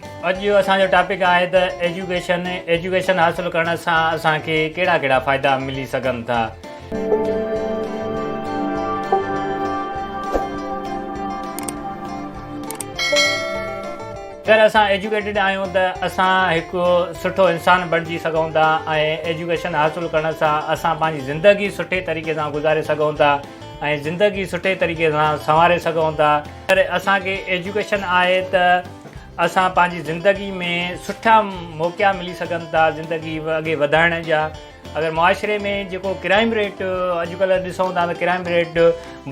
اڄ جو اسان جو ٽاپڪ آهي ته ايجوڪيشن ايجوڪيشن حاصل ڪرڻ سان اسان کي ڪهڙا ڪهڙا فائدا ملي سگهن ٿا اگر اسان ايجوڪيٽيڊ آهيون ته اسان هڪ سٺو انسان بڻجي سگهون ٿا ۽ ايجوڪيشن حاصل ڪرڻ سان اسان پنهنجي زندگي سٺي طريقي سان گذاري سگهون ٿا ۽ زندگي سٺي طريقي سان سنواري سگهون ٿا اگر اسان کي ايجوڪيشن آهي ته اسان پنهنجي زندگي ۾ سٺا موقعا ملي سگهن ٿا زندگي اڳي وڌائڻ جا اگر معاشري ۾ جيڪو ڪرائم ريٽ اڄڪلهه ڏسون ٿا ته ڪرائم ريٽ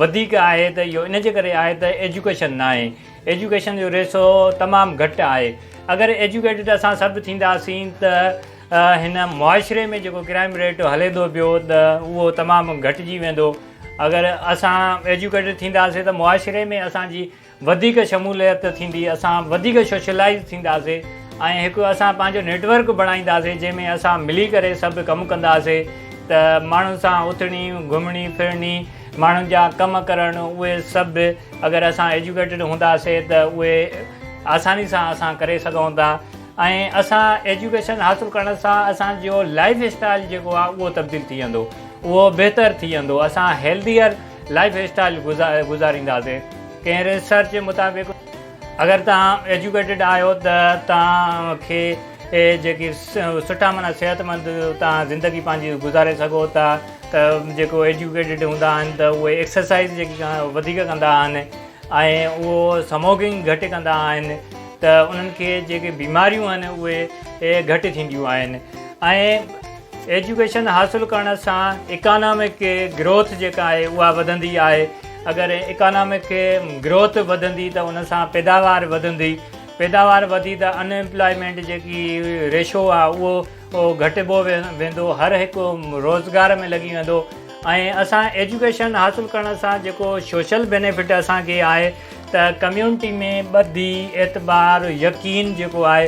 وڌيڪ آهي ته اهو ان جي ڪري آهي ته ايجوڪيشن نه آهي ايجوڪيشن جو ريسو تمام گهٽ آهي اگر ايجوڪيٽيڊ اسان سڀ ٿينداسين ته هن معاشري ۾ جيڪو ڪرائم ريٽ هلي ٿو پيو ته اهو تمام گهٽجي ويندو اگر اسان ايجوڪيٽيڊ ٿينداسين ته معاشري ۾ اسانجي وڌيڪ شموليت ٿيندي اسان وڌيڪ سوشلائيز ٿينداسي ۽ هڪ اسان پنهنجو نيٽ ورڪ بڻائينداسي جنهن ۾ اسان ملي ڪري سڀ ڪم ڪنداسي ته ماڻهن سان اٿڻي گهمڻي ڦرڻي ماڻهن جا ڪم ڪرڻ اهي سڀ اگر اسان ايجوڪيٽيڊ هونداسي ته اهي آساني سان اسان ڪري سگهون ٿا ۽ اسان ايجوڪيشن حاصل ڪرڻ سان اسان جو لائيف اسٽائيل جيڪو آهي اهو تبديل ٿي ويندو اهو بهتر ٿي ويندو اسان هيلديئر لائيف اسٽائيل گذارينداسي ڪنهن ريسرچ مطابق اگر توهان ايجوڪيٽيڊ آهيو ته توهان کي جيڪي سٺا معنيٰ صحت مند توهان زندگي پنهنجي گذاري سگهو ٿا ته جيڪو ايجوڪيٽيڊ هوندا آهن ته اهي ايڪسرسائز جيڪي وڌيڪ ڪندا آهن ۽ اهو سموڪنگ گهٽ ڪندا آهن ته انهن کي جيڪي بيماريون آهن اهي گهٽ ٿينديون آهن ۽ ايجوڪيشن حاصل ڪرڻ سان اڪانامڪ گروٿ جيڪا آهي اها وڌندي آهي اگر اڪانامڪ گروٿ وڌندي ته ان سان پيداوار وڌندي پيداوار وڌي ته ان امپلائمينٽ جيڪي ريشو آهي اهو گهٽبو ويندو هر هڪ روزگار ۾ لڳي ويندو ۽ اسان ايجوڪيشن حاصل ڪرڻ سان جيڪو سوشل بينيفٽ اسانکي آهي ته ڪميونٽي ۾ ٻڌي اعتبار يقين جيڪو آهي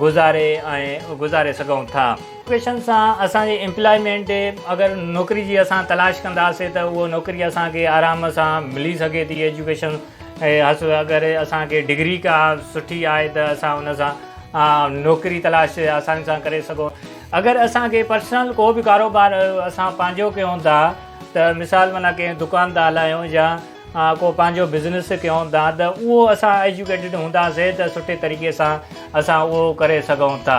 گذاري ۽ گذاري سگهون ٿا. ايجوڪيشن سان اسان جي امپلائمينٽ اگر نوڪري جي اسان تلاش ڪنداسين ته اهو نوڪري اسان کي آرام سان ملي سگهي ٿي ايجوڪيشن حاصل اگر اسان کي ڊگري ڪا سٺي آهي ته اسان ان سان نوڪري تلاش آساني سان ڪري سگهون اگر اسان کي پرسنل ڪو به ڪاروبار اسان پنهنجو ڪيون ٿا ته مثال منا ڪنهن دڪان ٿا هلايون يا آء ڪو پنهنجو بزنس ڪيون ٿا ته اهو اسان ايجوڪيٽيڊ هونداسين ته سٺي طريقي سان اسان اهو ڪري سگهون ٿا.